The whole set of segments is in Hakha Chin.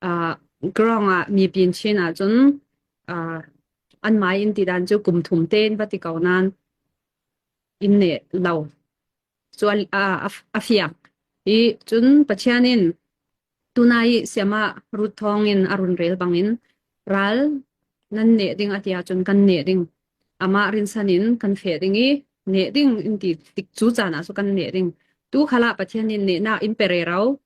Ah, Grong ah mi pin chin ahcun ah, an mai in ti dan cu kum thum tein va ti ko nan in ne lo chuan a a- a fiak i cun Pathian in tunai siama rut thawng in a run rel bangin ral nan neh ding ati ahcun kan neh ding amah rinsan in kan fe ding i neh ding in ti tik cu caan ah cu kan neh ding tu khala Pathian in nehnak in pere ro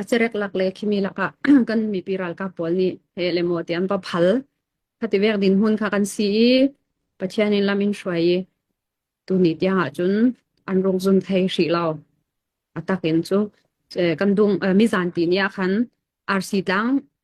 A cerek lak le khimi lakah kan mipi ralkap pawl nih he le maw ti an va phal. Khati vek din hun kha kan si i Pathian in lam in hruai i tuni tiang ah cun an rung zun thei hrih lo. A tak in cu eh, kan dung eh, mi zanti ni ah khan RC tlang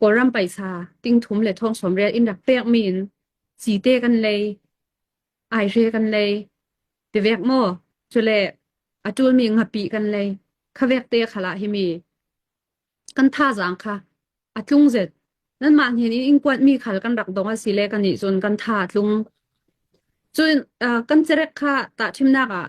Kawlram paisa, tingthum le thongsawm rial in rak pekmi in cite kan lei, aihre kan lei, tevek maw, cule a ṭulmi ngapi kan lei, khavek te khala himi kan thazang kha a tlung zet. Nanmah nih in kuatmi khal kan rak dong asile kan nih cun kan tha a tlung. Cun kan cerek kha tah ṭhimnak ah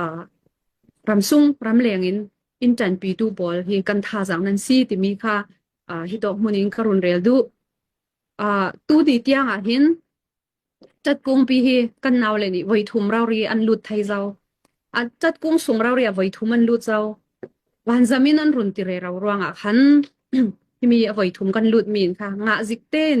ah ramsung ramleng in in ṭanpitu pawl hi kan thazaang nan si timi kha ah, hi tok hmun in ka run rel duh. Ah, tudi tiang ah hin ṭatkungpi hi kan naule nih voithum rauri an lut thai zau. A ṭatkung sung rauri a voithum an lut zau. Vanzamin an run tire rau ruang ah khan himi a voithum kan lut min kha ngah zik tein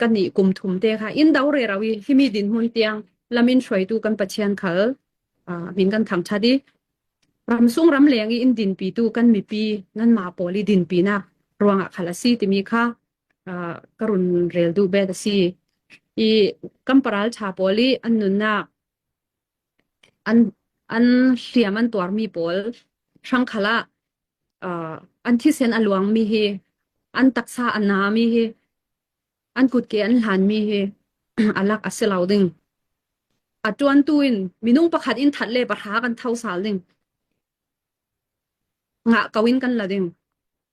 kan nih kum thum te kha in do re rau i himi din hmun tiang lamin hruaitu kan pathian khal min kan thang tha di ramsung ram leng i in din pi tu kan mipi nan ma poli din pi na ruanga khal asi timi kha karun rel du bet asi i kamparal tha poli an nunnak an hriam an tuarmi pawl hrangkhal ah uh, an thisen a luangmi hi an taksa a nami hi an kutke an hlanmi hi alak a si lo ding a tuan tu in minung pakhat in that le pahra kan tho sal ding ngah ko in kan la ding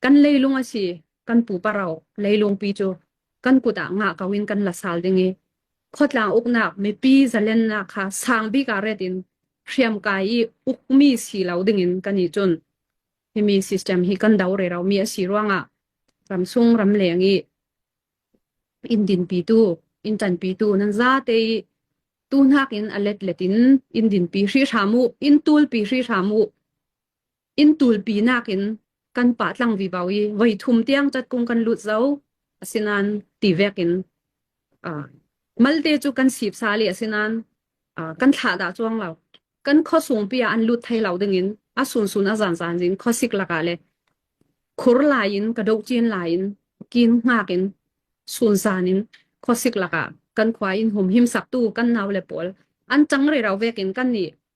Kan leilung a si, kan pupa ro, leilungpi cu kan kut ah ngah ko in kan la sal ding i khotlang uknak mipi zalennak kha sang bik ah ret in hriamkai i ukmi si lo ding in kan i chun. Himi system hi kan do re romi a si ruangah ramsung ramleng i indin pitu intan pitu nan zate i tu nak in alet letin indin pi hri hram u in tul pi hri hram u Inn tulpi nakin kan pah tlang vivau i voi thum tiang catkung kan lut zo. Asinan ti vek in uh, malte cu kan sip sa le asinan uh, kan thlah da chuang lo. Kan kho sung pi an lut thai lo ding in a sun sun a zan zan zin kho sik laka le khur lai in ka do chin lai in kin ngak in sun zan in khosik laka kan khwa in hum him sak tu kan naw le pawl an chang ri rau vek in kan ni